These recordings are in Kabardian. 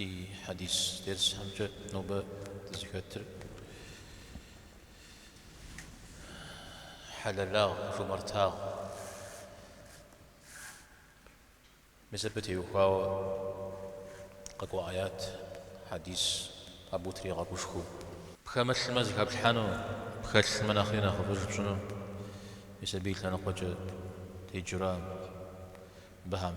Ди хьэдис дерсхэмкӏэ нобэ дызыхэтыр хьэлэлагъ, жумартагъ. Мис абы теухуауэ къэкӏуа аят, хьэдис абы тригъэгушхуэу. Пхэмылъмэ зыхэплъхьэну, пхэлъмэ нэхъри нэхъыфӏыж пщӏыну, мис абы и лъэныкъуэкӏэ теджэрам быхьэм.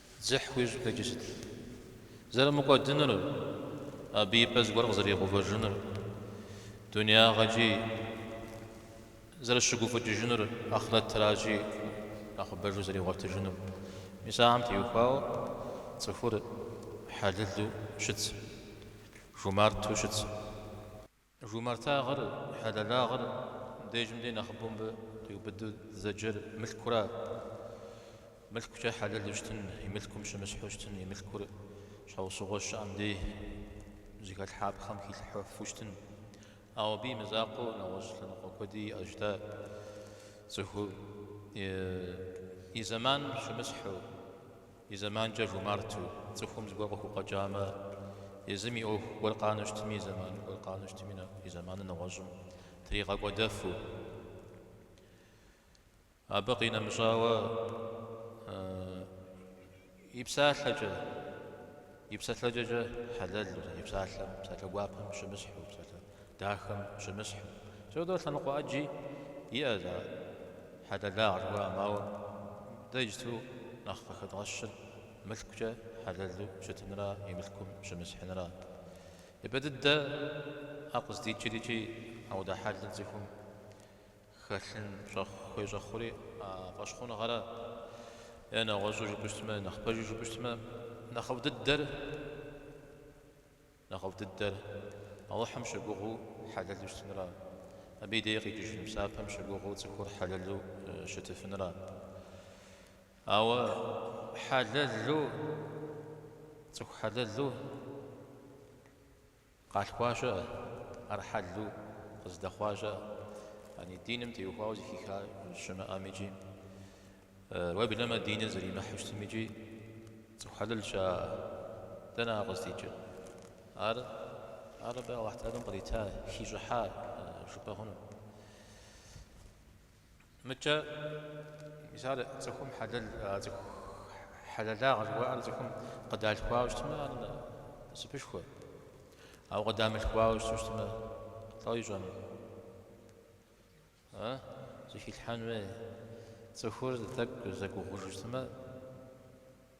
Дзыхь хуищӏ ихэкӏи сыт? Зэрымыкӏуэдынур, абы и пӏэ зыгуэр къызэригъэувэжынур, дунеягъэкӏи зэрыщыгуфӏыкӏыжынур, ахърэтыращи нэхъыбэжу зэригъуэтыжынур. Мис ахэм теухуауэ цӏыхур хьэлэлу щытщ, жумарту щытщ. Жумартагъыр, хьэлэлагъыр дежым дей нэхъыбэу мыбы къиубыду дызэджэр мылъкура? Мылъкукӏэ хьэлэлу щытын, и мылъкум щымысхьу щытын, и мылъкур щхьэусыгъуэ щыӏэм дей зыхэлъхьапхъэм хилъхьэфу щытын. Ауэ абы и мызакъуэу нэгъуэщӏ лъэныкъуэ куэди иӏэщ дэ. Цӏыху и зэман щымысхьу. И зэманкӏэ жумарту, цӏыхум зыгуэр къыхукъуэкӏамэ, езым и ӏуэху гуэр къанэу щытми, и зэман гуэр къанэу щытми, и зэманыр нэгъуэщӏым тригъэкӏуэдэфу, абы къинэмыщӏауэ и псалъэкӏэ, и псэлъэкӏэкӏэ хьэлэлу, и псалъэм, псалъэ гуапэм щымысхьу, псалъэ Дахэм щымысхьу. Аудэ лъэныкъуэ ӏэджи иӏэщ а хьэлэлагъэ жыхуаӏэм, ауэ дэ иджыту нэхъ къыхэдгъэщыр мылъкукӏэ хьэлэлу щытынра и мылъкум щымысхьынра. Мыбы дыдэ ӏэ къыздикӏыр икӏи аудэ хьэлыр цӏыхум хэлъын хуей щӏэхъури а фӏэщхъуныгъэра. Е нэгъуэщӏу жыпӏэу щытмэ, е нэхъ пэжу жыпӏэу щытмэ, нэхъыфӏ дыдэр Нэхъыфӏ дыдэр, Алыхьым щыгугъыу хьэлэлу щытынра, Абы и дей къикӏыжын псапэм щыгугъыу цӏыхур хьэлэлу щытыфынра. Ауэ хьэлэлу, цӏыху хьэлэлу къалъхуа щыӏэ, ар хьэлу къыздэхъуа щыӏэ, яни диным теухуауэ зыхиха щымыӏэм икӏи Уеблэмэ диныр зэримыхьэу щытым икӏи цӏыху хьэлэл щыӏэ, дэнэ ар къыздикӏыр? Ар ар абы Аллахь Тэхьэлам кърита, хищӏыхьа жыпӏэ хъуну. Мыкӏэ мисал цӏыхум хьэлэл цӏыху хьэлэлагъэ жыхуаӏэр цӏыхум къыдалъхуауэ щытмэ, ар насыпышхуэ. Ауэ къыдамылъхуауэ щыту щытмэ, дауэ ищӏыну? А? Зыхилъхьэн хуей. Цӏыхур тӏэкӏу зэгугъужу щытмэ,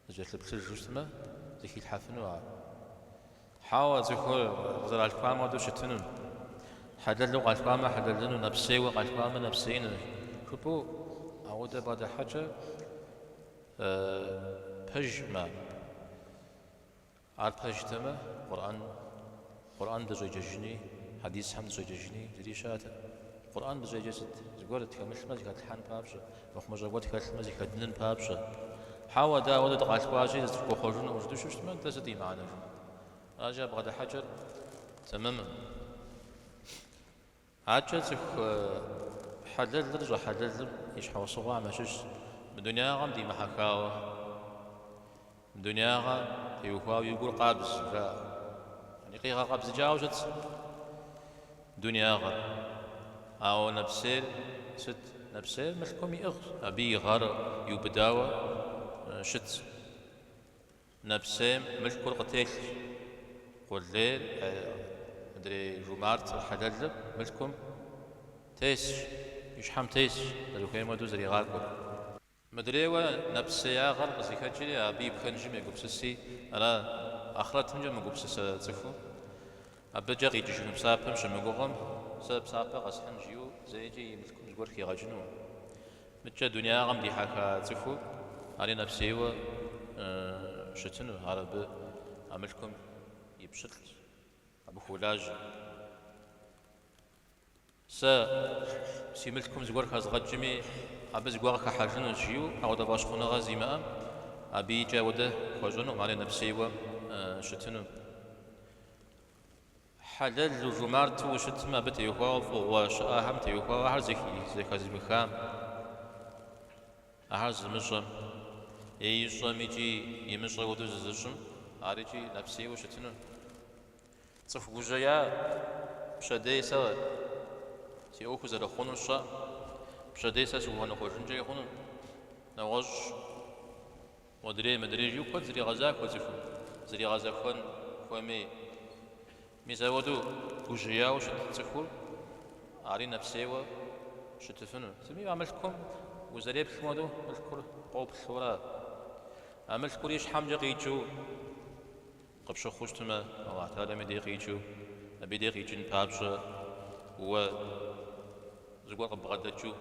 зэкӏэлъыплъыжу щытмэ, зыхилъхьэфыну ар. Хьэуэ, цӏыхур къызэралъхуам хуэдэу щытыну. Хьэлэлу къалъхуамэ, хьэлэлыну, нэпсейуэ къалъхуамэ, нэпсеину жыпӏэу ауэдэ бгъэдыхьэкӏэ пэжмэ. Ар пэжтэмэ, Къурӏэн, Къурӏэн дыщӏеджэжыни, хьэдисхэм дыщӏеджэжыни зыри щыӏэтэкъым. Къурӏэн дыщӏеджэ сыт? Зыгуэр тхэмылъмэ, зыхэтлъхьэн папщӏэ, мыхъумыщӏэ гуэр тхэлъмэ, зыхэдынын папщӏэ. Хьэуэ, дэ ауэдэу дыкъалъхуащи, зытхуэхъуэжынукъым жытӏэу щыщытмэ, дэ сыт и мыхьэнэ жыпӏэ? Аращи, а бгъэдыхьэкӏэр тэмэмкъым. Абыкӏэ цӏыху хьэлэлыр щӏэхьэлэлым и щхьэусыгъуэхэм ящыщщ, мы дунягъэм димыхьэхауэ, мы дунягъэм теухуауэ и гур къабз, жаӏэ. Къигъэкъэбзыкӏауэ щытщ дунягъэм, ауэ нэпсейр сыт? Нэпсейр мылъкум иӏыгъщ, абы и гъэр иубыдауэ щытщ. Нэпсейм мылъкур къытелъщ. Къулейр, мыдрей жумарт хьэлэлыр, мылъкум тесщ, и щхьэм тесщ, зэрыхуейм хуэдэу зэригъакӏуэр. Мыдрейуэ нэпсеягъэр къызыхэкӏри, абы и пхэнжым егупсыси, ара ахърэтымкӏэ мыгупсысэ цӏыху, Абыкӏэ къикӏыжыну псапэм щымыгугъым, сэ псапэ къэсхьын жиӏэу зэикӏи и мылъкум зыгуэр хигъэкӏыну? Мыдкӏэ дунягъэм дихьэха цӏыхур ари нэпсейуэ щытыну, ар абы а мылъкум и пщылӏщ, абы хуолажьэ. Сэ си мылъкум зыгуэр хэзгъэкӏми, абы зыгуэ къыхыхьэжынущ, жиӏэу ауэдэ фӏэщхъуныгъэ зимыӏэм абы икӏи ауэдэ хуэщӏынукъым, ари нэпсейуэ щытыну. Хьэлэлу, жумарту ущытмэ, абы теухуауэ фӏыгъуэ щыӏэхэм теухуауэ ахэр зэхэзымыхам, ахэр зымыщӏэм е ищӏэм икӏи имыщӏэ хуэдэу зызыщӏым, ар икӏи нэпсейуэ щытыну. Цӏыху гужьея пщэдей сэ си ӏуэху зэрыхъунур щӏэ, пщэдей сэ сыхуэныкъуэжынкӏи хъуну? Нэгъуэщӏщ. Модрей, мыдрей жиӏэу куэд зригъэзахуэ цӏыхум, зригъэзэхуэн хуэмей. Мис ауэдэу гужьеяуэ щыт цӏыхур, ари нэпсейуэ щытыфыну. Сытми а мылъкум узэреплъым хуэдэу мылъкур къоплъурэ, а мылъкур и щхьэмкӏэ къикӏыу. Къыпщыхъуу щытмэ, Аллахь Тэхьэлам и дей къикӏыу, абы и дей къикӏын папщӏэ уэ зыгуэр къыббгъэдэкӏыу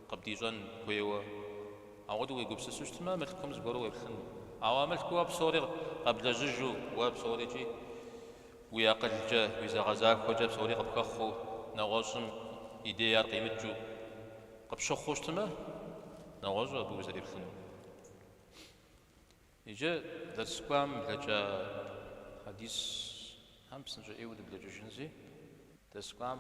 къыбдищӏэн хуейуэ. Ауэдэу уегупсысу щытмэ, мылъкум зыгуэру уеплъыну. Ауэ а мылъкуу уэ псори къэблэжьыжу, уэ псорикӏи уи акъылкӏэ, уи зэгъэзахуэкӏэ псори къыпхэхъуу, нэгъуэщӏым и дей ар къимыкӏыу къыпщыхъуу щытмэ, нэгъуэщӏу абы узэреплъыну. Иджы дерс кӏуам блэкӏа хьэдисхэм псынщӏэ ӏейуэ дыблэкӏыжынзи, дерс кӏуам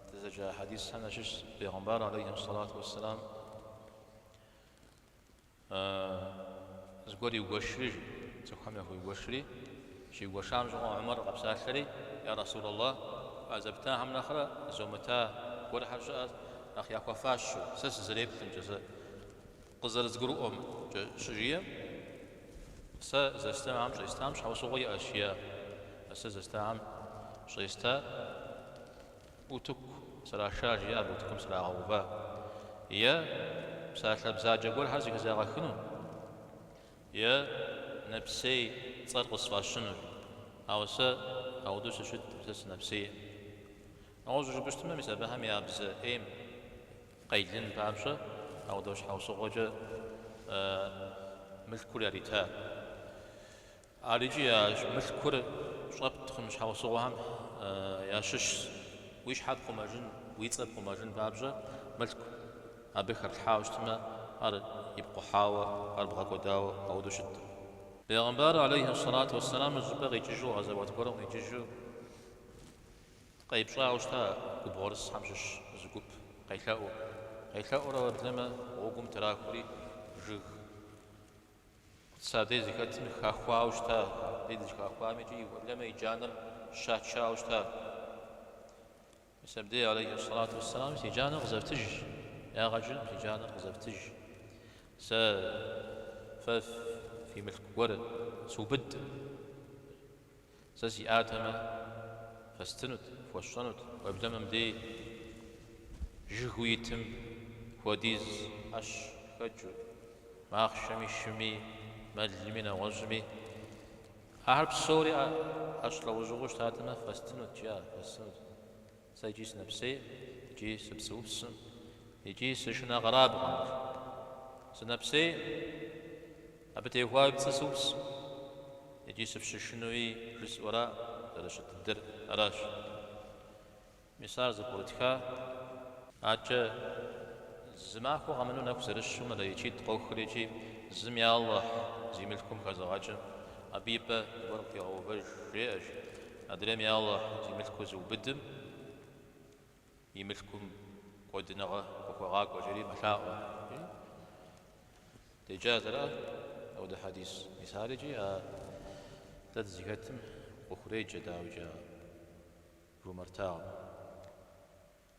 дызэджа хьэдисхэм ящыщ Пейгъэмбар алейхи сэлату уэсселам зыгуэр иугуэшри, цӏыхухэм яхуиугуэшри, щиугуэшам щыгъуэ Ӏумэр къэпсалъэри, Я Расулаллах, а зэптахэм нэхърэ зомыта гуэрхэр щыӏэт, нэхъ яхуэфащэу, сэ сызэреплъымкӏэ, сэ Къызэрызгурыӏуэмкӏэ щыжиӏэм, сэ зэстахэм щӏестам щхьэусыгъуэ иӏэщ, жиӏа, сэ зэстахэм щӏеста утыку сраша, жиӏа, утыкум срагъэува, е псалъэ бзаджэ гуэрхэр зыхызагъэхыну, е нэпсей цӏэр къысфӏащыну, ауэ сэ ауэдэу сыщыткъым, сэ сынэпсейкъым. Нэгъуэщӏу жыпӏэщтмэ, мис абыхэм я бзэ ӏейм. Къелын папщӏэ, ауэдэу щхьэусыгъуэкӏэ мылъкур ярита. Ар икӏи мылъкур щӏэпт хъун щхьэусыгъуэхэм ящыщщ. Уи щхьэр пхъумэжын, уи цӏэр пхъумэжын папщӏэ, мылъку абы хэплъхьауэ щытмэ, ар ипкъухьауэ, ар бгъэкӏуэдауэ ауэдэу щыткъым. Пейгъэмбар, алейхьи сэлату уэсэлам, зы щӏыпӏэ къикӏыжу гъэзэуат гуэрым къикӏыжу. Къепщӏауэ щыта губгъуэрысхэм щыщ зы гуп, къелъэӏуу. Къелъэӏуурэ уеблэмэ, гъуэгум трахури, жыг мис абдей зэхэтым хахуауэ щыта, абдей щыхахуам икӏи уеблэмэ и джанэр щачауэ щыта. Мис абдей, алейхи сэлату уэсселам, си джанэр къызэфтыж, ягъэджын, си джанэр къызэфтыж. Сэ фэ фи мылъку гуэр сыубыд. Сэ сиӏатэмэ, фэстынут, фхуэсщӏэнут, уеблэмэ мыбдей жыгыу итым хуэдиз ӏэщ хэкӏыу, махъшэми, шыми, мэлми, нэгъуэщӏми. Ахэр псори ӏэщ лӏэужьыгъуэу щытатэмэ, фэстынут, жиӏа, фэстынут. Сэ икӏи сынэпсей, икӏи сыпцӏыупс, икӏи сышынэ къэрабгъэм. Сынэпсей, абы техуауи пцӏы сыупс, икӏи сыпщышынуи жысӏэуэра зэрыщыт дыдэр аращ. Мис ар зэпкърытха. Адэкӏэ зы махуэ къэмыну нэху зэрыщу мэлэӏичитӏ къохри икӏи зым я Аллахь зи мылъкум хэзыгъэкӏым, абы и пӏэ зыгуэр къигъэувэж, жеӏэщ, Адрейм я Аллахь зи мылъкур зыубыдым, и мылъкум кӏуэдыныгъэ къыхуэгъакӏуэ жери мэлъаӏуэ, жи. Деджа ара апхуэдэ хьэдис мис ар икӏи, а дэ дызыхэтым къыхуреджэ, дауикӏа, жумэртагъэм.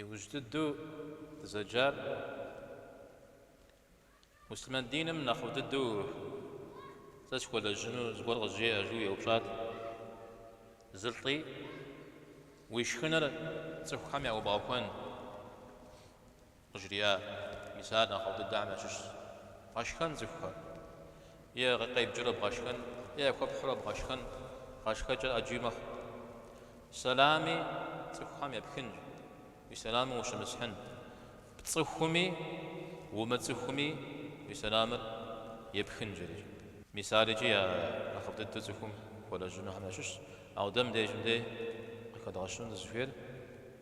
Иужь дыдэу дызэджар муслъымэн диным нэхъыфӏ дыдэу сэ схуэлэжьыну зыгуэр къызжеӏэ, жыу еупщӏат зы лӏы, уи шхыныр цӏыхухэм яӏуэбгъэхуэн. Къыжриӏа, мис ар нэхъыфӏ дыдэхэм ящыщщ. Бгъэшхэн цӏыхухэр. Е къебджэрэ бгъэшхэн, е яхуэпхьурэ бгъэшхэн, гъэшхэкӏэр ӏэджи мэхъу. Сэлами цӏыхухэм епхынщ, уи сэлам ущымысхьын. Пцӏыхуми умыцӏыхуми уи сэлам епхын жери. Мис ар икӏи я нэхъыфӏ дыдэу цӏыхум хуэлэжьынухэм ящыщщ. Ауэ дэ мыбдежым дей къыхэдгъэщыну дызыхуейр?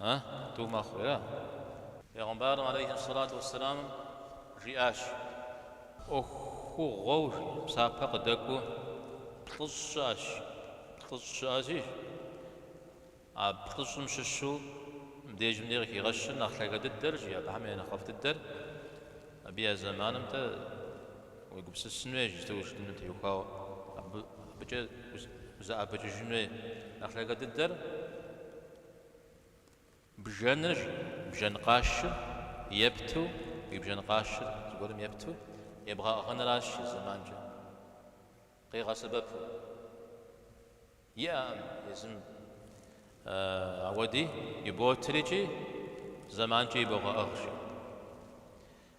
А? Тӏу мэхъуи, а? Пегъымбарым алейхи ссалату уэсселам жиӏащ. ӏуэхугъуэу псапэ къыдэкӏуэу плӏыщӏ щыӏэщ. Плӏыщӏ щыӏэщи, а плӏыщӏым щыщу мыбдежым дей къыхигъэщыр нэхъ лъагэ дыдэрщ, жи, абыхэм я нэхъыфӏ дыдэр. Абы я зэманым дей уегупсысын хуейщ, иджыпсту ущытыным теухуауэ абы, абыкӏэ узэӏэбэкӏыжын хуей. Нэхъ лъагэ дыдэр Бжэныр, бжэн къашыр, епту, уи бжэн къашыр зыгуэрым епту, ебгъэӏыгъыныращ зы зэманкӏэ къигъэсэбэпу. Иӏэкъым езым ауэди иботырикӏи, зэманкӏи ибогъэӏыгъщи.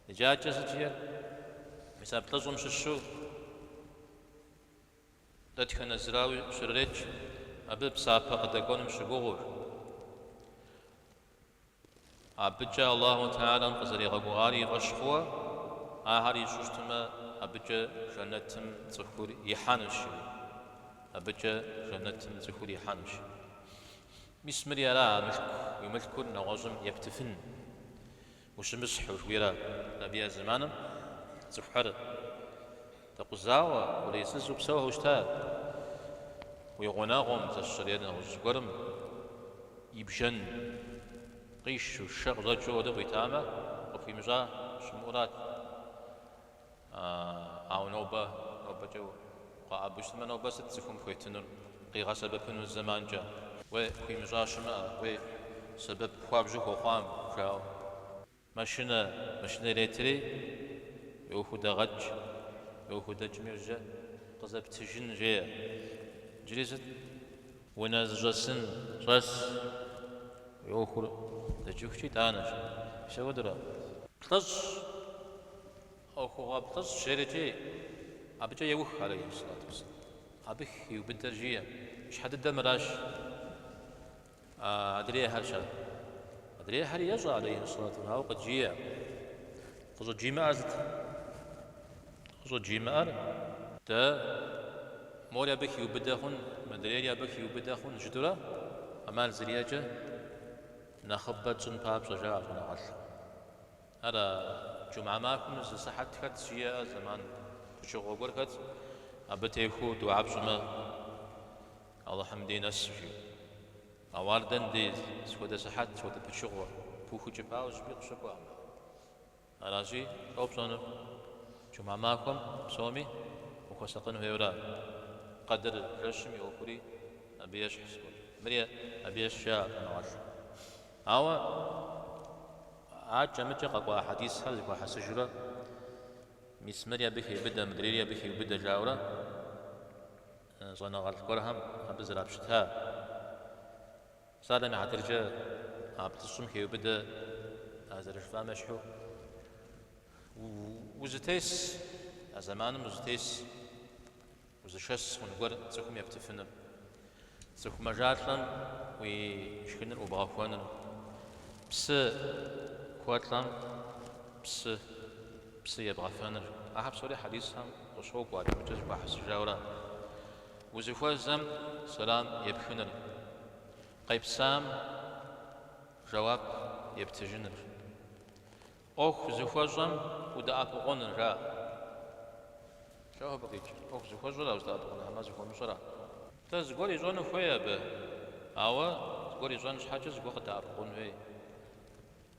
Иджы адэкӏэ зыжиӏэр мис а плӏыщӏым щыщу Дэтхэнэ зырауи щрет, жи, абы псапэ къыдэкӏуэнум щыгугъыу. Абыкӏэ Аллаху Тэхьэлам къызэригъэгугъари и фӏэщ хъууэ, ахэр ищӏу щытмэ, абыкӏэ жэнэтым цӏыхур ихьэнущ, жи. Абыкӏэ жэнэтым цӏыхур ихьэнущ. Мис мыри ара а мылъку, уи мылъкур нэгъуэщӏым ептыфын. Ущымысхь, жыхуиӏэрэ абы я зэманым цӏыхухэр дэкъузауэ, къулейсызу псэухэу щыта уи гъунэгъум, сэ сщӏэрэ, нэгъуэщӏ зыгуэрым и бжэн къишу, шэ къыщӏэкӏыу абы къуитамэ, къыпхуимыщӏа щымыӏурат. Ауэ нобэ, нобэкӏэ укъэӏэбэу щытмэ, нобэ сыт цӏыхум пхуетынур къигъэсэбэпыну зэманкӏэ? Уей, хуимыщӏа щымыӏэ, уей, сэбэп хуабжьу хуэхъуам, жаӏэу. Машинэ, машинэ иретри, уи ӏуэху дэгъэкӏ, уи ӏуэху дэкӏми жьэ къызэптыжын жеӏэ. Иджыри сыт? Унэ зыщӏэсын щӏэс уи ӏуэхур дэкӏыхукӏэ итӏанэщ. Апхуэдэурэ плӏыщӏ, ӏуэхугъуэ плӏыщӏ жерэкӏи, абыкӏэ еух, алейхи салат уассалам. Абы хиубыдэр жиӏэ. Щхьэ дыдэ мыращ адрейхэр щӏар. Адрейхэр ещӏэ, алейхи салат, ауэ къыджиӏэ. Къыщӏыджимыӏэр сыт? Къыщӏыджимыӏэр? Дэ, мори абы хиубыдэ хъун, мыдрейри абы хиубыдэ хъун, жытӏэурэ, ӏэмал зэриӏэкӏэ нэхъыбэ тщӏын папщӏэ, жаӏэ щӏэныгъэлӏхэм. Ара, джумэ махуэм зы сыхьэт хэтщ, жиӏэ, зэман пычыгъуэ гуэр хэтщ, абы техуэу дыуа пщӏымэ, Алыхьым дей нэсу, жиӏэу. Ауэ ар дэн деж, сыхуэдэ сыхьэт, сыхуэдэ пычыгъуэ? Пыухыкӏыпауэ зыщӏыпӏи къыщыкӏуакъым. Аращи, уэ пщӏэнур, джумэ махуэм псоми ухуэсакъын хуейуэ ара. Къэдыр жэщым и ӏуэхури абы ещхь сыкӏуэкӏэ. Мыри абы ещхь, жаӏэ щӏэныгъэлӏым. Ауэ акӏэ-мыкӏэ къэкӏуа хьэдисхэр зэхуахьэсыжурэ, Мис мыри абы хеубыдэ, мыдрейри абы хеубыдэ жаӏэурэ, Щӏэныгъэлӏ гуэрхэм абы зэрапщыта псалъэм я хьэтыркӏэ а плӏыщӏым хеубыдэ а зэрыжыфӏам ещхьу. Узытес, а зэманым узытес, узышэс хъун гуэр цӏыхум ептыфыныр, цӏыху мэжалӏэм уи шхыныр ӏубгъэхуэныр, псы хуэлӏэм псы. Псы ебгъэфэныр. Ахэр псори хьэдисхэм къыщокӏуэ, адэ-мыкӏэ зэхуахьэсыжауэ ара. Узыхуэзэм сэлам епхыныр. Къепсам жэуап ептыжыныр. ӏуэху зыхуэщӏэм удэӏэпыкъуныра. Лӏо абы къикӏыр. ӏуэху зыхуэщӏэра уздэӏэпыкъуныр, хьэмэ зыхуэмыщӏэра? Тӏэ зыгуэр ищӏэну хуей абы, ауэ зыгуэр ищӏэн щхьэкӏэ зыгуэр къыдэӏэпыкъун хуей.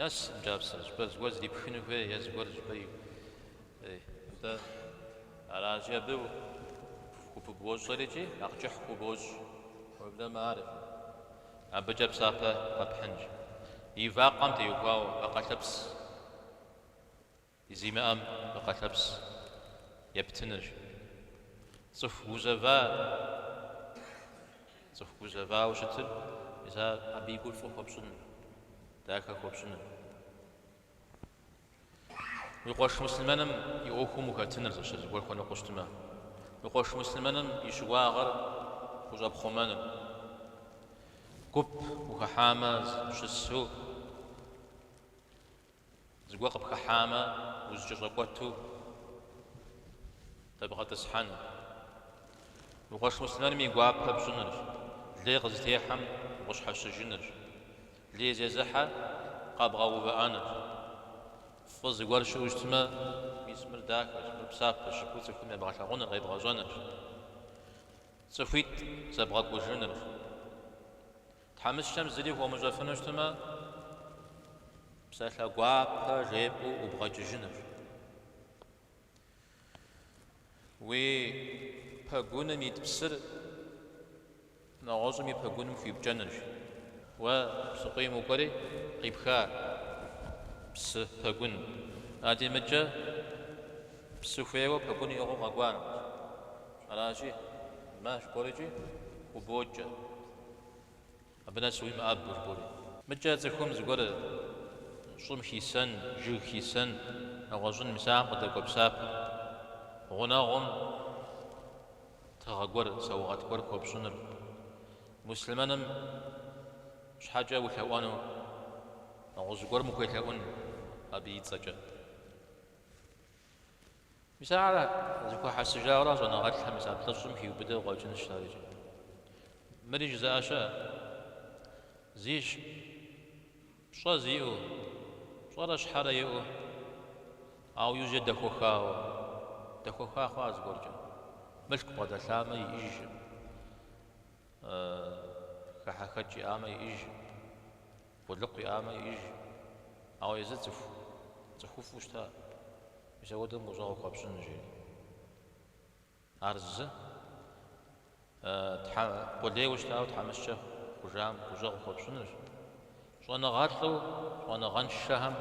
Нэс мы кӏапсэ, щӏыпӏэ зыгуэр зрипхыну хуей е зыгуэр зыщӏыпӏею. Атӏэ, аращи, абы хупыбощӏэр икӏи нэхъ кӏыхь хубощӏ. Уеблэмэ ар абыкӏэ псапэ къэпхьынщ. И вакъэм теухуауэ, вакъэлъэпс. Зимыӏэм вакъэлъэпс ептынырщ. Цӏыху гузэва, цӏыху гузэвауэ щытыр, мис ар абы и гур фӏы хуэпщӏыным, дахэ хуэпщӏыным. Уи къуэш муслъымэным и ӏуэхум ухэтыныр зыщ, зыгуэр хуэныкъуэу щытмэ, уи къуэш муслъымэным и щыуагъэр хущӏэпхъумэныр, гуп ухыхьамэ щысу, Зыгуэр къыпхыхьамэ, узэкӏэщӏэкӏуэту дэбгъэтӏысхьэну. Уи къуэш муслъымэным и гуапэ пщӏынырщ, лей къызытехьэм укъыщхьэщыжынырщ, лей зезыхьэр къэбгъэувыӏэнырщ. Фӏы зыгуэр щыӏэу щытмэ, мис мыр дахэщ, мыр псапэ щыху цӏыхум ебгъэлъагъуныр къебгъэщӏэнырщ, цӏыхуитӏ зэбгъэкӏужынырщ. Тхьэмыщкӏэм зыри хуомыщӏэфыну щытмэ, псалъэ гуапэ жепӏэу ӏубгъэкӏыжынырщ. Уи пэгуным ит псыр нэгъуэщӏым и пэгуным хуипкӏэнырщ. Уэ псыкъуийм укӏуэри, къипха псы пэгун. Адимыкӏэ псы хуейуэ пэгун иӏыгъыу къэкӏуа ныбжь. Аращи, мащӏэ гуэркӏи хубокӏэ. Абы нэс уи мыӏэ бгургури. Мыкӏэ цӏыхум зыгуэр щӏым хисэн, жыг хисэн, нэгъуэщӏын, мис ахэм къыдэкӏуэ псапэ. Гъунэгъум тыгъэ гуэр, саугъэт гуэр хуэпщӏыныр. Муслъымэным щхьэкӏэ улъэӏуэну, нэгъуэщӏ гуэрым ухуелъэӏун абы и цӏэкӏэ. Мис ара зэхуахьэсыжауэрэ щӏэныгъэлӏхэм мис а плӏыщӏым хиубыдэу къуэкӏынущ ар иджы. Мыри жызыӏэ щыӏэщ. Зищ пщӏэ зиӏэу, пщӏэрэ щхьэрэ иӏэу, ауэ иужькӏэ дэхуэхауэ, дэхуэха хъуа зыгуэркӏэ? Мылъку бгъэдэлъамэ, иӏыжкъым, хэхьэхэкӏ иӏамэ, иӏыжкъым. Къулыкъу иӏамэ иӏыж, ауэ езы цӏыху цӏыхуфӏу щыта, мис апхуэдэм гущӏэгъу хуэпщӏын, жери. Ар зы, Тхьэ, къулейуэ щытауэ тхьэмыщкӏэ хъужам гущӏэгъу хуэпщӏынущ, щӏэныгъэлӏу щӏэныгъэншэхэм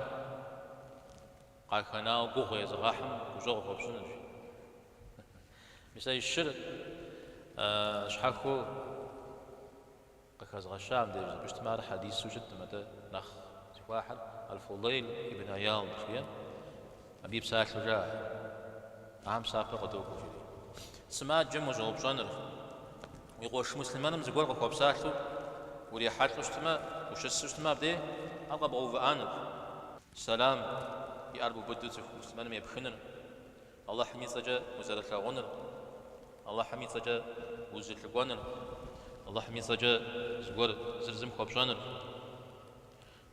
къахэнауэ гугъу езыгъэхьым гущӏэгъу хуэпщӏынущ. Мис а щыр щхьэхыу Къыхэзгъэщам деж зыпыщтмэ, ар хьэдису щыткъым, атӏэ нэхъ зыхуахьыр Аль-Фудейл ибн Айяд жиӏэу, абы и псалъэу жаӏэ, Ахэм псапэ къыдокӏуэ, жери. Сымаджэм ущӏэупщӏэныр, уи къуэш муслъымэным зыгуэр къыхуэпсалъэу урихьэлӏэу щытмэ, ущысу щытмэ, абдей ар къэбгъэувыӏэныр, сэлам и ӏэр бубыду цӏыху муслъымэным епхыныр, Алыхьым и цӏэкӏэ узэрылъагъуныр, Алыхьым и цӏэкӏэ узэлъыкӏуэныр, Алыхьым и цӏэкӏэ зыгуэр зыр зым хуэпщӏэныр,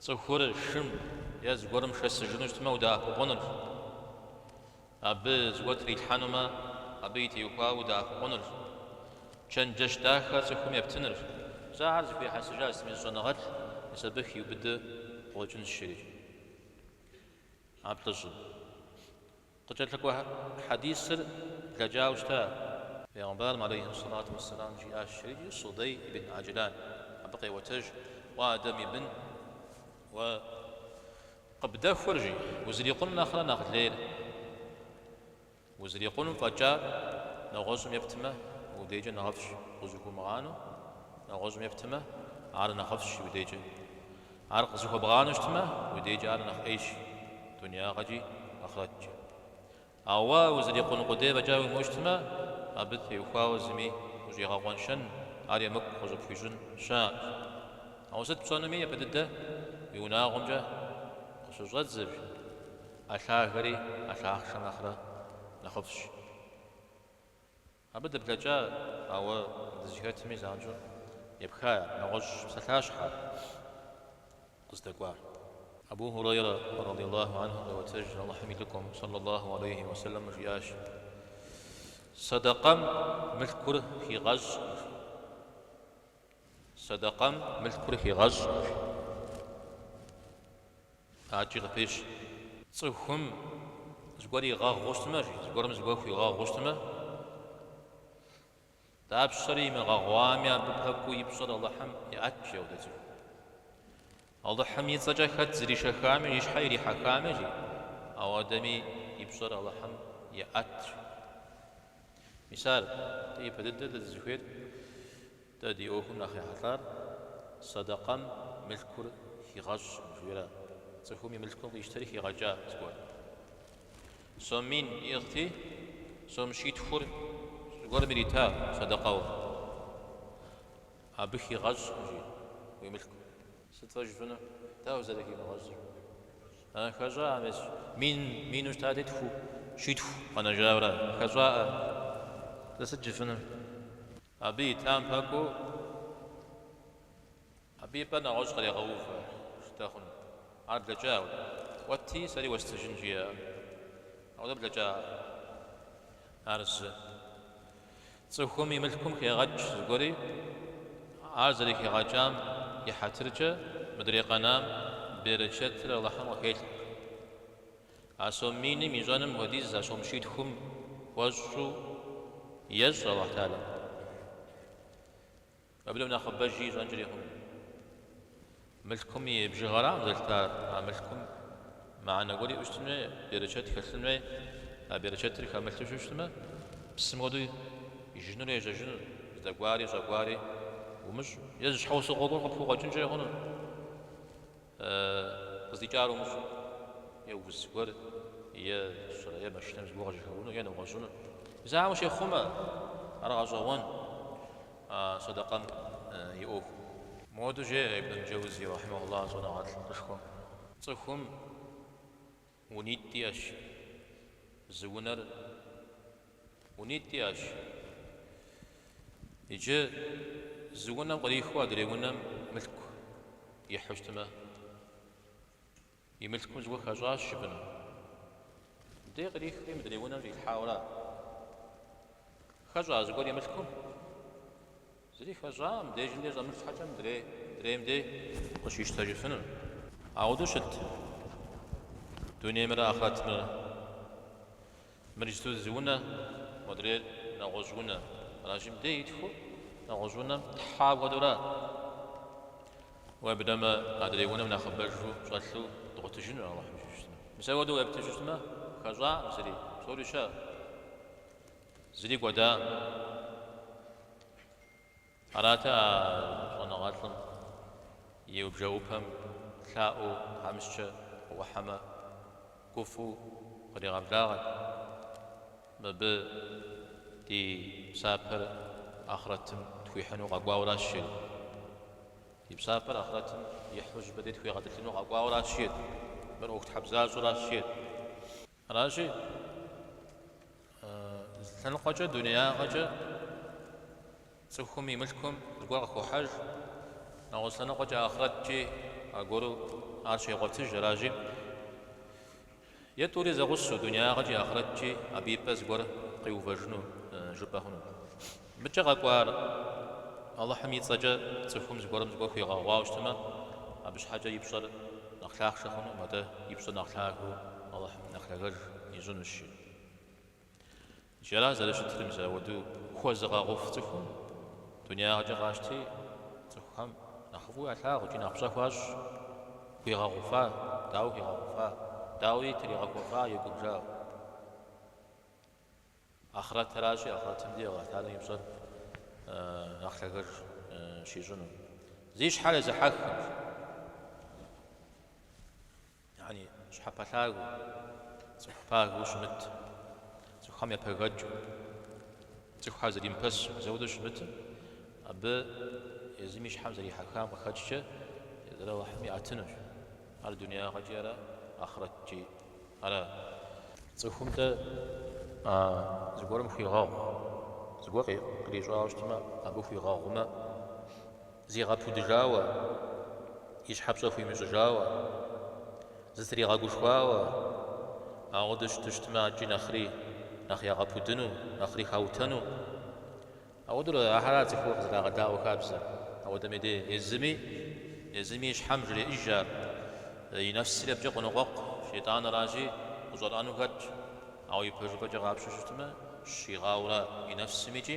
цӏыхур шым е зыгуэрым шэсыжыну щытмэ, удэӏэпыкъуныр, абы зыгуэр трилъхьэнумэ, абы итеухуауэ удэӏэпыкъуныр, чэнджэщ дахэ цӏыхум ептыныр. Зэ ар зэхуихьэсыжащ зыми зы щӏэныгъэлӏ, мис абы хиубыдэ къыуэкӏынщ, жери а плӏыщӏым. Къыкӏэлъыкӏуэ хьэдисыр блэкӏауэ щыта? Пэйгъэмбарым алейхи сэлату уэсэлам жиӏащ жери Судэй ибн Аджлан, абы къеӏуэтэж, Уэ Адэм и бын, уэ къыбдэхуэр жи, узрикъун нэхърэ нэхъ лейр, узрикъуну фӏэкӏар нэгъуэщӏым ептмэ, уи дежкӏэ нэхъыфӏщ, къызыхуумыгъанэу нэгъуэщӏым ептмэ, ар нэхъыфӏщ уи дежкӏэ. Ар къызыхуэбгъанэу щытмэ, уи дежкӏэ ар нэхъ ӏейщ дунеягъэкӏи ахърэткӏи. Ауэ уэ узэрикъун къудей фӏэкӏа уимыӏэу щытмэ, абы теухуауэ зыми ущӏигъэкъуэншэн, ар емыкӏу къыщӏыпхуищӏын щыӏэкъым. Ауэ сыт пщӏэнуми япэ дыдэ уи унагъуэмкӏэ къыщыщӏэдзэ, жи, ӏэ лъагэр ӏэ лъахъшэм нэхърэ нэхъыфӏщ. Абы дыблэкӏа, ауэ дызыхэтми занщӏэу епха нэгъуэщӏ псалъащхьэр къыздэкӏуар. Абу Хурейрэ радияллаху анху къеӏуэтэжыр, Алыхьым и Лӏыкӏуэм, сэллаллаху алейхи уэ сэллэм, жиӏащ, Сэдэкъэм мылъкур хигъэщӏ. Сэдэкъэм мылъкур хигъэщӏ пакӏи къыпещӏ. Цӏыхум зыгуэр игъэгъуу щытмэ, жи, зыгуэрым зыгуэр хуигъэгъуу щытмэ, дапщэрэ имыгъэгъуами, абы пэкӏуэу и пщӏэр Алыхьым еӏэт, жи, апхуэдэ цӏыху. Алыхьым и цӏэкӏэ хэт зришэхами, и щхьэ ирихьэхами, жи, ауэдэми и пщӏэр Алыхьым еӏэт. Мис ар дэ ипэ дыдэр дэ дызыхуейр, дэ ди ӏуэхум нэхъ ехьэлӏар сэдэкъэм мылъкур хигъэщӏкъым жиӏэра, цӏыхум и мылъкум къищтэри хигъэкӏа зыгуэр. Сом мин иӏыгъти, сом щитхур зыгуэрым ирита сэдэкъэуэ. Абы хигъэщӏкъым жи уи мылъкум. Сыт фэ жыфӏыну? Дауэ зэрыхимыгъэщӏыр? А хэщӏаӏэм ещӏ мин, мину щытати, тху, щитху къэнэжауэра? А хэщӏаӏэ дэ сыт жыфӏыну? Абы итам пэкӏуу, абы и пӏэр нэгъуэщӏ кърегъэувэ щытэ хъуну? Ар блэкӏауэ, кӏуэти, сэри уэстыжын жиӏэ. Ауэ дэ блэкӏа ар зы? Цӏыхум и мылъкум хегъэкӏ зыгуэри, ар зэрыхигъэкӏам и хьэтыркӏэ мыдрей къэнам берычэтыр Алыхьым къыхелъхьэ. А сом миным ищӏэным хуэдиз а сом щитхум хуэщӏу ещӏ Алыхь Тэхьэла. Абы нэхъ нэхъыбэжи ищӏэнкӏэри хъуну. Мылъкум и бжыгъэрам зэлъытар, а мылъкум мыхьэнэ гуэр иӏу щытын хуей, берычэт хэлъын хуей, а берычэтыр хэмылъу щыщтмэ, псым хуэдэу ижынур, ежьэжынур, здэкӏуари щӏэкӏуари умыщӏу, е зы щхьэусыгъуэ гуэр къыпхукъуэкӏынкӏэри хъуну. Къыздикӏар умыщӏу, е уз гуэр, е щӏырэ, е машинэм зыгуэр къыжьэхэуэну, е нэгъуэщӏыну. Зауэм ущехъумэ, ар гъэщӏэгъуэн сэдэкъэм и ӏуэхум. Моуэду жеӏэ Ибн аль-Джэузи, рахьимэхуллахь, щӏэныгъэлӏ къышхуэм, Цӏыхум Унитӏ иӏэщ. Зы унэр унитӏ иӏэщ. Иджы зы унэм кърихыу адрей унэм мылъку ихьу щытмэ, и мылъкум зыгуэр хэщӏащ жыпӏэну. Мыбдеж кърихри мыдрей унэм щӏилъхьауэра? Хэщӏа зыгуэр и мылъкум? Зыри хэщӏакъым дежым деж щӏэмылъ щхьэкӏэ мыдрей, мыдрейм дей къыщищтэжыфынур. Ауэдэу щыт дунеймрэ ахърэтмрэ. Мыр иджыту зы унэ, модрейр нэгъуэщӏ унэ. Аращи, мыдей итхыу нэгъуэщӏ унэм тхьа хуэдэура? Уеблэмэ, адрей унэм нэхъыбэжу щӏэлъу дгъуэтыжынур Алыхьым дей. Мис ауэдэу уеплъу щыщтмэ, хэщӏакъым зыри, псори щыӏэ. Зыри кӏуэдакъым. Арати, а щӏэныгъэлӏым и бжэӏупэм лъаӏуэу тхьэмыщкӏэ къыӏухьэмэ, гуфӏыу къригъэблагъэт мыбы ди псапэр ахърэтым тхуихьыну къэкӏуауращ жери. Ди псапэр ахърэтым ихьыжу абы дей тхуигъэтӏылъыну къэкӏуауращ жери. Мыр ӏуэхутхьэбзащӏэращ жери. Аращи, зы лъэныкъуэкӏэ, дунеягъэкӏэ цӏыхум и мылъкум зыгуэр къыхохьэж, нэгъуэщӏ лъэныкъуэкӏэ ахърэткӏи аргуэру ар щегъуэтыж. Аращи, е тӏури зэгъусэу, дунеягъэкӏи ахърэткӏи абы и пӏэ зыгуэр къиувэжыну жыпӏэ хъуну. Мыкӏэ къэкӏуар Алыхьым и цӏэкӏэ цӏыхум зыгуэрым зыгуэр хуигъэгъуауэ щытмэ, абы щхьэкӏэ и пщӏэр нэхъ лъахъшэ хъунукъым, атӏэ и пщӏэр нэхъ лъагэу Алыхьым нэхъ лъагэж ищӏынущи. Икӏи ара зэрыщытыр, мис ауэдэу хуэзыгъэгъуф цӏыхум дунеягъэкӏэ къащти, цӏыхухэм нэхъыфӏу ялъагъу икӏи нэхъ пщӏэ хуащӏ, хуигъэгъуфа, дауэ хуигъэгъуфа, дауи тригъэхуэфа игум, жаӏэ. Ахърэтыращи, ахърэтым дей Алыхьталэм и пщӏэр нэхъ лъагэж щищӏыну. Зи щхьэр езыхьэххэм, яни щхьэпэлъагэу, цӏыху пагэу щымыт, цӏыхухэм япэгэкӏыу, цӏыхухэр зримыпэсу, мис ауэдэу щымытым, абы езым и щхьэм зэрихьэхам къыхэкӏкӏэ езыр Алыхьым иӏэтынущ. Ар дунеягъэкӏи ара, ахърэткӏи. Ара цӏыхум дэ а зыгуэрым хуигъэгъу? Зыгуэр кърищӏауэ щытмэ, абы хуигъэгъумэ, зигъэпудыжауэ, и щхьэпщӏэ хуимыщӏыжауэ, зытригъэгушхуауэ, ауэдэ щыту щытмэ, ар икӏи нэхъри нэхъ ягъэпудыну, нэхъри хаутэну. Ауэдэу ахэр ара цӏыху къызэрагъэдаӏуэ хабзэр. Ауэдэм и дей езыми, езыми и щхьэм жреӏыж ар. И нэфсри абыкӏэ къоныкъуэкъу, шейтӏаныращи, къыщӏэрӏэну хэтщ. Ауэ и пэжыпӏэкӏэ къапщтэу щытмэ, щигъауэу ара и нэфсым икӏи,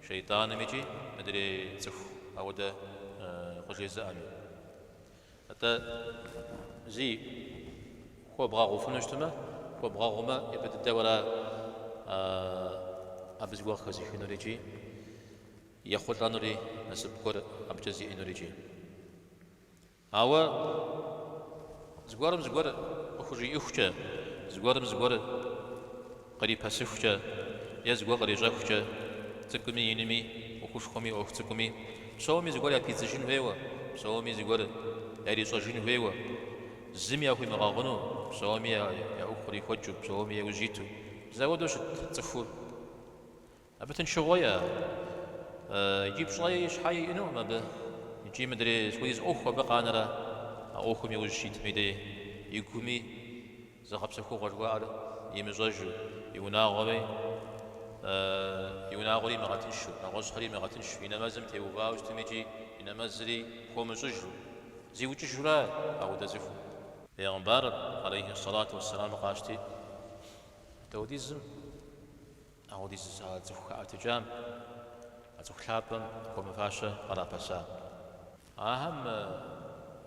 шейтӏаным икӏи, мыдрей цӏыху ауэдэ къыжезыӏэми. Атӏэ, зи хуэбгъэгъуфыну щытмэ, хуэбгъэгъумэ, ипэ дыдэ уэра абы зыгуэр къыхэзыхынур икӏи ехъулӏэнури, насып гуэр абыкӏэ зиӏэнур икӏи? Ауэ зыгуэрым зыгуэр къыхужиӏыхукӏэ, зыгуэрым зыгуэр Кърипэсыхукӏэ е зыгуэр кърищӏэхукӏэ, цӏыкӏуми инми, ӏуэхушхуэми ӏуэху цӏыкӏуми, псоми зыгуэр япидзыжын хуейуэ, псоми зыгуэр ярищӏэжын хуейуэ, зыми яхуимыгъэгъуну, псоми я ӏуэху кърихуэкӏыу, псоми яужь иту, мис ауэдэу щыт цӏыхур. Абы тыншыгъуэи ар икӏи пщӏэи щхьэи иӏэнукъым абы, икӏи мыдрей сыт хуэдиз ӏуэху абы къанэрэ а ӏуэхум иужь щитым и дей игуми зыгъэпсэхугъуэ жыхуаӏэр имыщӏэжу, и унагъуэри имыгъэтыншу, нэгъуэщӏхэри имыгъэтыншу, и нэмэзым теувау щытым икӏи и нэмэзри хуэмыщӏыжу, зиукӏыжу ара ауэдэ цӏыхум. Пэйгъымбарыр, алейхи ссалату уэсселам, къащти, ауэдизым Ауэдиз зыщӏа цӏыху хэӏэтыкӏам, а цӏыху лъапӏэм хуэмыфащэ кърапэса. Ахэм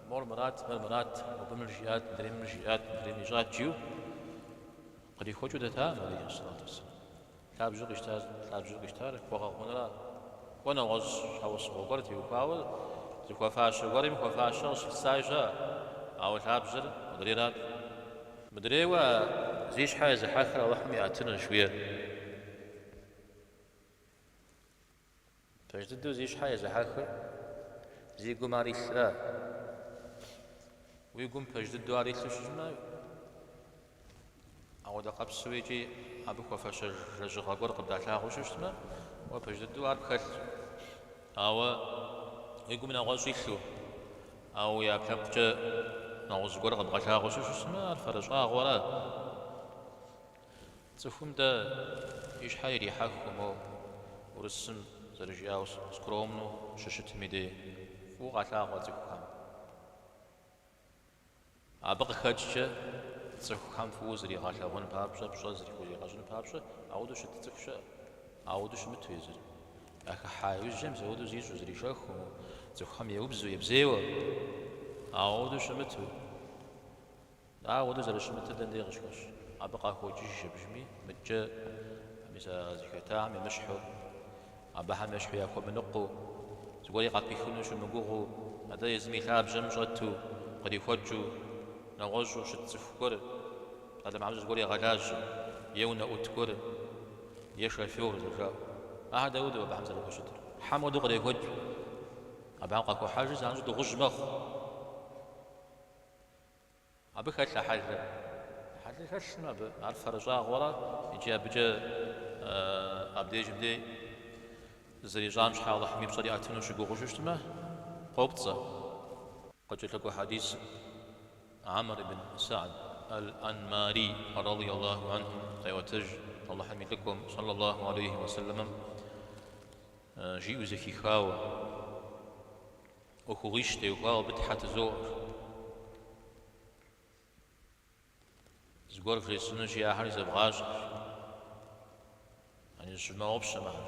мор мырат, мыр мырат, мыбы мыр жиӏат, мыдрейм мыр жиӏат, мыдрейм ищӏат жиӏэу кърихуэкӏыу дэтакъым алейхи сэлату уэсэлам. Лъабжьу къищтар, лъабжьу къищтар хуэгъэгъунра, кӏуэ нэгъуэщӏ щхьэусыгъуэ гуэр теухуауэ зыхуэфащэ гуэрым хуэфащэр къыщылъысаи щыӏэ, ауэ лъабжьэр мыдрейрат. Мыдрейуэ а зи щхьэ езыхьэхыр Алыхьым иӏэтынущ, жиӏэр. Пэж дыдэу зи щхьэ езыхьэхыр зи гум ар илърэ? Уи гум пэж дыдэу ар илъу щыщытмэ, ауэдэ къабзэу икӏи абы хуэфэщэж лэжьыгъэ гуэр къыбдалъагъуу щыщытмэ, уэ пэж дыдэу ар пхэлъщ. Ауэ уи гум нэгъуэщӏ илъу, ауэ уи ӏэпкълъэпкъкӏэ нэгъуэщӏ гуэр къэбгъэлъагъуэу щыщытмэ, ар фэрыщӏагъуэра? Цӏыхум дэ и щхьэ ирихьэхыу, моу, урысым зэрыжиӏау, скромнэу щыщытым и дей, фӏыуэ къалъагъуэ цӏыхухэм. Абы къыхэкӏкӏэ цӏыхухэм фӏыуэ зригъэлъэгъуэн папщӏэ, пщӏэ зыхуригъэщӏын папщӏэ ауэдэу щыт цӏыху щыӏэ? Ауэдэу щымыту езыр. Ахыхьа иужьым зауэдэу зищӏу, зришэхыу, цӏыхухэм еубзу, ебзейуэ. Ауэдэу щымыту. Ауэдэу зэрыщымытыр дэн дей къыщыхэщ. Абы къахокӏыж абдежми, мыдкӏэ мис а зыхэтахэм емыщхьу. Абыхэм ещхьу яхуэмыныкъуэу, зыгуэри къапихыну щымыгугъыу, атӏэ езым и лъабжьэм щӏэту, кърихуэкӏыу, нэгъуэщӏу щыт цӏыху гуэр, псалъэм папщӏэ зыгуэр егъэлажьэ, е унэӏут гуэр, е шофёр зэрыжаӏэу. Ахэр дауэдэу абыхэм зэрыхущытыр? Хьэм хуэдэу кърехуэкӏ. Абыхэм къахохьэжри занщӏэу дыгъужь мэхъу. Абы хэлъ а хьэлыр. Хьэлыр хэлъмэ, абы ар фэрыщӏагъуэрэ икӏи абыкӏэ абдежым дей зэрищӏам щхьэ Алыхьым и пщӏэр иӏэтыну щыгугъыжу щытмэ, къопцӏэ. Къыкӏэлъыкӏуэ хьэдисым Амр ибн Сагъд Аль-Анмари рады Аллаху анхум къеӏуэтэж Алыхьым и Лӏыкӏуэм сэллэ Аллаху алейхи уэ сэлэмэм жиӏэу зэхихауэ, ӏуэхугъуищ теухуауэ абы Тхьэ тызоӏуэр. Зыгуэр вжесӏэнущи ахэр зэвгъащӏэ. Яни зыщывмыгъэгъупщэ мыхэр.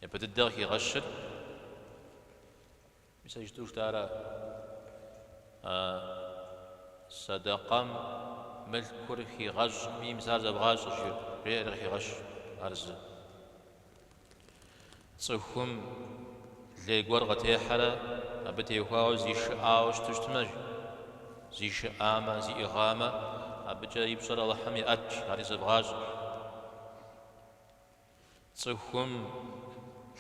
Япэ дыдэ къыхигъэщыр, мис иджытӏу жытӏара, садакъэм мылъкур хигъэщӏкъым, мис ар зэвгъащӏэ жиӏэр, жиӏэр къыхигъэщ ар зы. Цӏыхум лей гуэр къытехьэрэ абы теухуауэ зишыӏауэ щыту щытмэ, жи. Зишыӏамэ, зиӏыгъамэ, абыкӏэ и пщӏэр Алыхьым еӏэтщ, ари зэбгъащӏэщ. Цӏыхум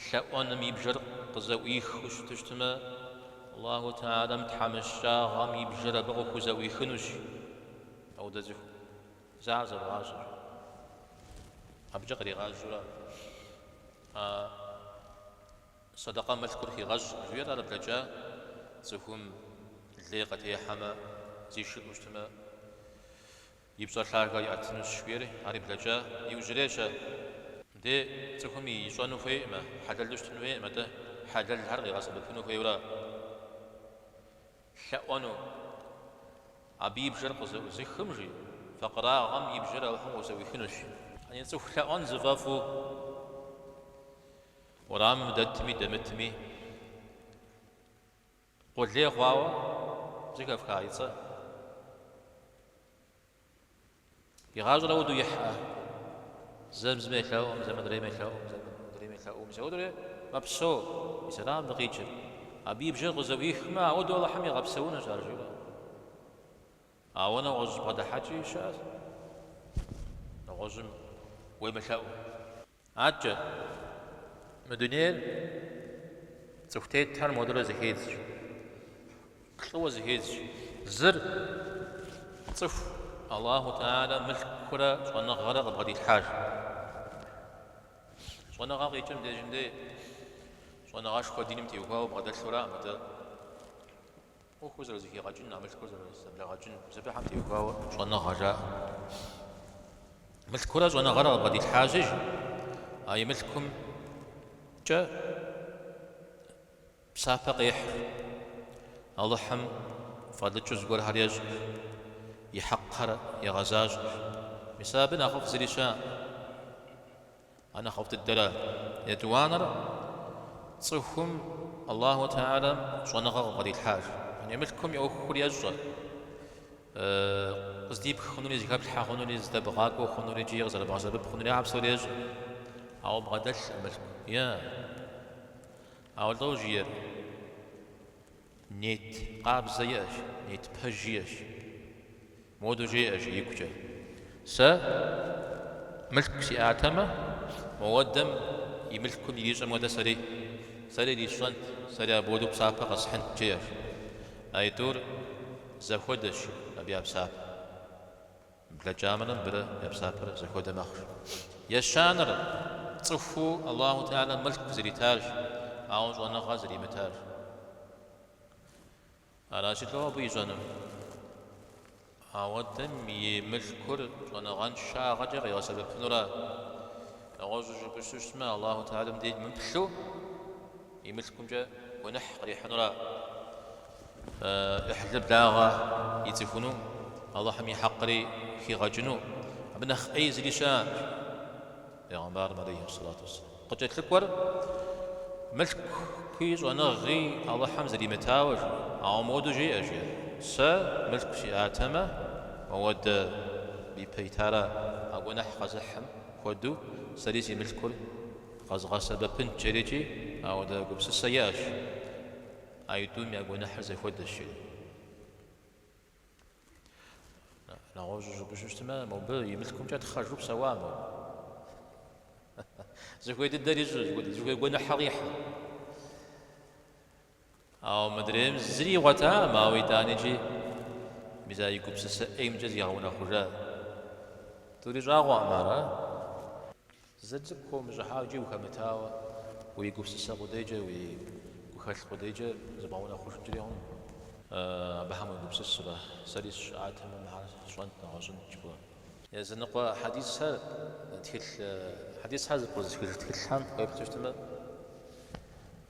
лъэӏуэным и бжэр къызэӏуихыу щыту щытмэ, Аллаху Тэӏалэм тхьэмыщкӏагъэм и бжэр абы къыхузэӏуихынущ. Ауэдэ цӏыху. Заа зэвгъащӏэ. Абыкӏэ къригъажьэурэ а сэдэкъэ мылъкур хигъэщӏ жиӏэр ар блэкӏа цӏыхум лей къытехьэмэ, зишыӏэу щытмэ, и пщӏэр лъагэ иӏэтынущ жиӏэри, ари блэкӏа иужьрейщ. Де цӏыхум ищӏэну хуейӏымэ, хьэлэлу щытыну хуейӏым, атӏэ хьэлэлхэр къигъэсэбэпыну хуейуэ ара? лъэӏуэну, абы и бжэр къызэӏузыхым, жи, факъырагъым и бжэр Алыхьым къыхузэӏуихынущ. Яни цӏыху лъэӏуэн зыфӏэфӏу уэрамым дэтми дэмытми, къулей хъуауэ зэхэфха и цӏэр И гъащӏэр ауэду ихьа. Зэм зым елъэӏум, зэм адрейм елъэӏум, зэм адрейм елъэӏум. Ауэдурэ мэпсо, мис ара мыбдей къикӏыр. Абы и бжэр къызэӏуихмэ, ауэду Алыхьым игъэпсэунущ ар, жиӏэ. Ауэ нэгъуэщӏ бгъэдыхьэкӏи щыӏэщ, нэгъуэщӏым уемылъэӏум. Аркӏэ, мы дунейр цӏыху тетхэр модурэ зыхедзщ, плӏыуэ зыхедзщ. Зыр, цӏыху Аллаху Тэӏалэ мылъкурэ щӏэныгъэрэ къыбгъэдилъхьащ. Щӏэныгъэ къикӏыр мыбдежым дей щӏэныгъэшхуэ диным теухуауэ бгъэдэлъу араӏым атӏэ. ӏуэхур зэрызэхигъэкӏын, а мылъкур зэрызэблигъэкӏын бзэпыхьэм теухуауэ щӏэныгъэ жаӏэ. Мылъкурэ щӏэныгъэрэ къыбгъэдилъхьащ, жи, а и мылъкумкӏэ псапэ къехьыр, Алыхьым фӏэлӏыкӏыу зыгуэрхэр ещӏыр, и хьэкъхэр егъэзащӏэр. Мис абы нэхъыфӏ зыри щыӏэӏым. А нэхъыфӏ дыдэра. Етӏуанэр цӏыхум Аллаху Тэӏалэм щӏэныгъэ къыбгъэдилъхьащ. Яни мылъкум и ӏуэхухэр ещӏэ, къыздипх хъунури, зыхэплъхьэ хъунури, зыдэбгъакӏуэ хъунури икӏи къызэрыбгъэсэбэп хъунури ахьэр псори ещӏэ. Ауэ бгъэдэлъ мылъку, е ауэ лӏо жиӏэр? Нет къабзэ иӏэщ, нет пэж иӏэщ. Моду жеӏэ жи игукӏэ. Сэ мылъку сиӏатэмэ, моуэдэм и мылъкум ирищӏэм хуэдэ сэри, сэри ирисщӏэнт, сэри апхуэдэу псапэ къэсхьынт, жеӏэщ. А итӏур зэхуэдэщ абы я псапэ. Блэкӏамрэ мыбырэ я псапэр зэхуэдэ мэхъуж. Ещанэр цӏыхуу Аллаху Теалэм мылъку зритарщ, ауэ щӏэныгъэ зримытарщ. Аращи слӏо абы ищӏэнур. Ауэдэм и мылъкур щӏэныгъэншагъэкӏэ къигъэсэбэпынура? Нэгъуэщӏу жыпӏэу щытмэ, Аллаху Теалэм деж мыплъу и мылъкумкӏэ гуэныхь кърихьынура? ӏыхьлы благъэ ицӏыхуну, Алыхьым и хьэкъри хигъэкӏыну, абы нэхъ ӏей зыри щыӏэкъым, жиӏа пегъэмбарым алейхьэссалату уэсселам. Къыкӏэлъыкӏуэр мылъкуи щӏэныгъи Алыхьым зримытауэ жи. Ауэ мыуэду жеӏэщ, е, Сэ мылъку сиӏатэмэ, моуэдэ абы ипэ итара а гуэныхь къэзыхьым хуэду сэри си мылъкур къэзгъэсэбэпынт, жери икӏи ауэдэ гупсысэ иӏэщ. А итӏум я гуэныхьыр зэхуэдэщ, жери. Нэгъуэщӏу жыпӏэжу щытмэ, мобы и мылъкумкӏэ тхъэжу псэуамэ. Зыхуей дыдэр ищӏа, зыхуей гуэныхьыр къихьа. Ауэ мыдрейм зыри игъуэтакъым, ауэ итӏаникӏи мис а и гупсысэ ӏеймкӏэ зигъэунэхъужа. Тӏури щӏагъуэкъым ара? Зы цӏыкӏу хыумыщӏыхьауэ икӏи ухэмытауэ, уи гупсысэ къудейкӏэ, уи гухэлъ къудейкӏэ зыбгъэунэхъужынкӏэри хъунукъым. Абыхэм уегупсысрэ? Сэри сыщыӏатэмэ, мыхэр сщӏэнт, нэгъуэщӏынт жыпӏэу. Языныкъуэ хьэдисхэр тхылъ хьэдисхэр зэпкърызыхыж тхылъхэм укъеплъу щытмэ.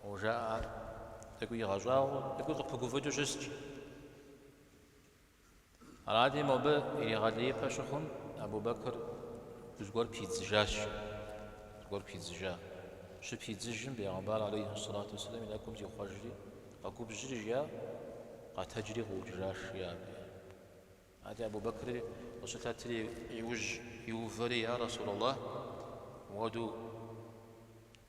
Къыужаӏэр тӏэкӏуи игъэщӏагъуэу, тӏэкӏуи къыпыгуфӏыкӏыу щыст. Арати, мобы иригъэлеипэ щыхъум, Абу-Бэкыр зыгуэр пидзыжащ. Зыгуэр пидзыжа. Щыпидзыжым, бегъымбар алейхьи сэлату уэсэлам и нэкӏум зихъуэжри, къэгубжьри жиӏа, къэтэджри ӏукӏыжащ, жиӏат. Арати, Абу-Бэкри къыщылъэтри иужь иувэри, Я Расулаллахь, ауэду.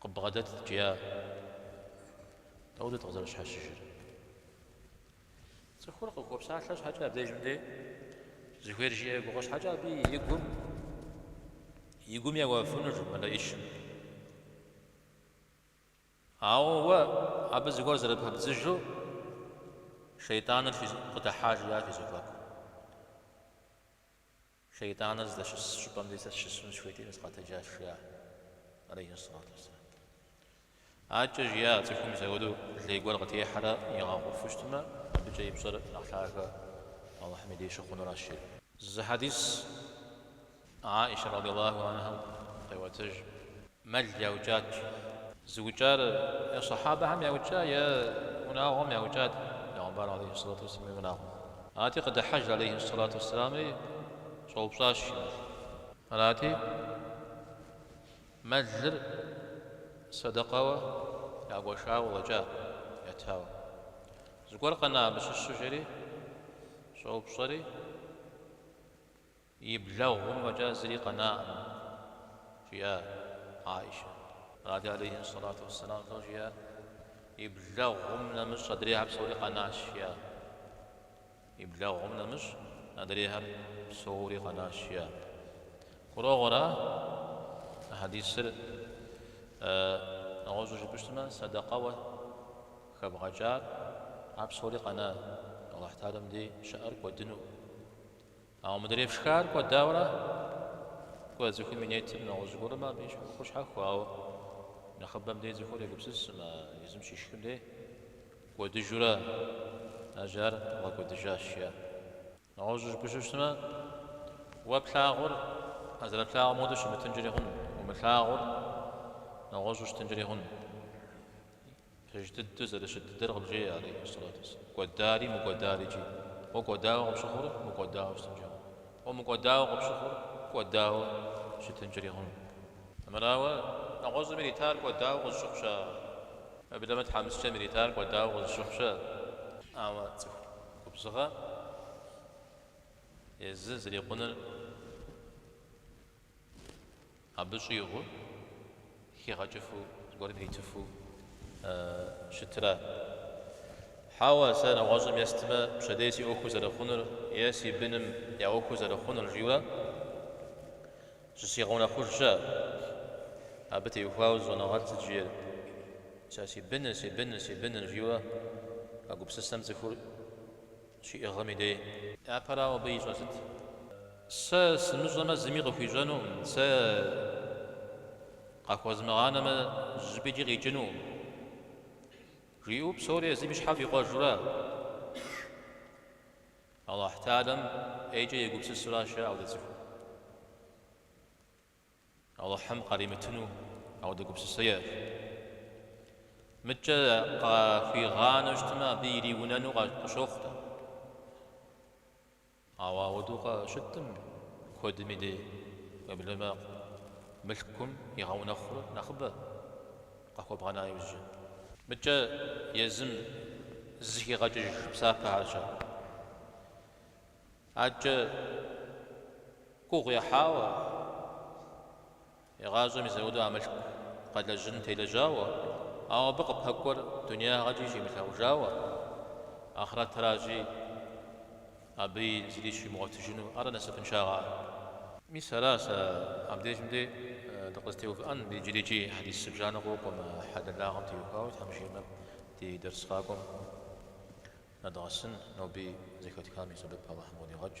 Къыббгъэдэтт, жиӏа. Дауэдэ къызэрыпщхьэщыжыр? Цӏыхур къыхуопсалъэ щхьэкӏэ абдеж мыдей зыхуейр жиӏэ гугъэ щхьэкӏэ абы и гум и гум еуэфынущ мэлэӏычыр. Ауэ уэ абы зыгуэр зэрыпэбдзыжу шейтӏаныр къыдэхьа жиӏащ фи зэхуаку. Шейтӏаныр здэщыс щӏыпӏэм дей сэ сыщысыну сыхуейтэкъыми сыкъэтэджащ, жиӏащ алейхи сэлату уэсселам. Аркӏэ жиӏа, цӏыхум мисауэдэу лей гуэр къытехьэрэ игъэгъуфу щытмэ, абыкӏэ и пщӏэр нэхъ лъагэ Алыхьым и деж щыхъунуращ, жери. Зы хьэдис Аишэ радиаллаху анхьэм къеӏуэтэж. мэл яукӏат. Зыукӏар е сахьабэхэм яукӏа, е унагъуэм яукӏат Пэйгъэмбар алейхи ссалату уэсселам и унагъуэм. Арати, къыдыхьэж алейхи ссалату уэсселамри, щӏэупщӏащ. Арати, мэлыр сэдэкъэуэ ягуэшауэ уэкӏа, ятауэ. Зыгуэр къэна абы щыщу? жери щӏэупщӏэри. И блэгъум фӏэкӏа зыри къэнаӏым, жиӏа Аишэ. Арати алейхи ссалату уэсселам фӏыуэ жиӏа, И блэгъум нэмыщӏ адрейхьэр псори къэнащ, жиӏа. И блэгъум нэмыщӏ адрейхьэр псори къэнащ, жиӏа. Гурыӏуэгъуэра хьэдисыр? Нэгъуэщӏу жыпӏэщтмэ, сэдэкъэуэ хэбгъэкӏар, ар псори къэна, Алыхьталэм дей щыӏэр кӏуэдыну. Ауэ мыдрей пшхар кӏуэдауэрэ кӏуэ цӏыхум и нетыр нэгъуэщӏ гуэрмэ абы и ӏуэхур щхьэхуэ, ауэ нэхъыбэм дей цӏыхур егупсысмэ, езым щишхым дей кӏуэдыжурэ аращ ар бгъэкӏуэдыжащ, жиӏэ. Нэгъуэщӏу жыпӏэщу щытмэ, уэ плъагъур уэ зэрыплъагъум хуэдэу щымытынкӏэри хъуну, умылъагъур нэгъуэщӏу щытынкӏэри хъуну. Пэж дыдэ зэрыщыт дыдэр къыбжеӏэ, алейхиссалату вассалам, кӏуэдари мыкӏуэдарикӏи. Уэ кӏуэдауэ къыпщыхъур мыкӏуэдауэ щытынкӏэ хъун. Уэ мыкӏуэдауэ къыпщыхъур кӏуэдауэ щытынкӏэри хъун. Мырауэ, нэгъуэщӏым иритар кӏуэдауэ къызыщыхъу щыӏэ? Уеблэмэ тхьэмыщкӏэм иритар кӏуэдауэ къызыщыхъу щыӏэ? Ауэ цӏыху губзыгъэ езы зрикъуныр Абы щӏигъуу, хигъэкӏыфу, зыгуэрым иритыфу щытра? Хьэуэ, сэ нэгъуэщӏым естмэ, пщэдей си ӏуэху зэрыхъунур е си быным я ӏуэху зэрыхъунур жиӏэурэ зызыгъэунэхъуж щыӏэ. Абы теухуауэ зы щӏэныгъэлӏ сыт жиӏэр? Сэ си быныр, си быныр, си быныр жиӏэурэ а гупсысэм цӏыхур щиӏыгъым и дей. Япэрауэ абы ищӏэр сыт? Сэ сымыщӏэмэ зыми къыхуищӏэнукъым, сэ къахуэзмыгъанэмэ зыщӏыпӏикӏи къикӏынукъым, жиӏэу псори езым и щхьэм фӏикъуэжурэ Алыхьталэм ӏейкӏэ егупсысуращ, ауэдэ цӏыхум. Алыхьым къаримытыну ауэдэ гупсысэ иӏэщ. Мыдкӏэ къахуигъанэу щытмэ, абы ириунэну къыщохъу-тӏэ. Ауэ ауэдэу щытӏым, куэдым и дей уеблэмэ, мылъкум игъэунэхъур нэхъыбэ къахуэбгъэна иужьы. Мыдкӏэ езым зыхигъэкӏыж псапэ арщ ар. Адэкӏэ гугъу ехьауэ, игъащӏэм и зэрыдэу а мылъку къэлэжьын телэжьауэ, ауэ абы къыпэкӏуэр дунеягъэкӏи щимылъагъужауэ, ахърэтращи, абыи зыри щимыгъуэтыжыну, ара насыпыншагъэр? Мис ара сэ абдежым де дыкъызэтеувыӏэн, иджырикӏи хьэдис зыбжанэ къокӏуэ, мы хьэлэлагъэм теухуауэ, Тхьэм жиӏэмэ, ди дэрс къакӏуэм. Нэдгъэсын, ноби зэхэтхам и сэбэп Алыхьым къыдигъэкӏ.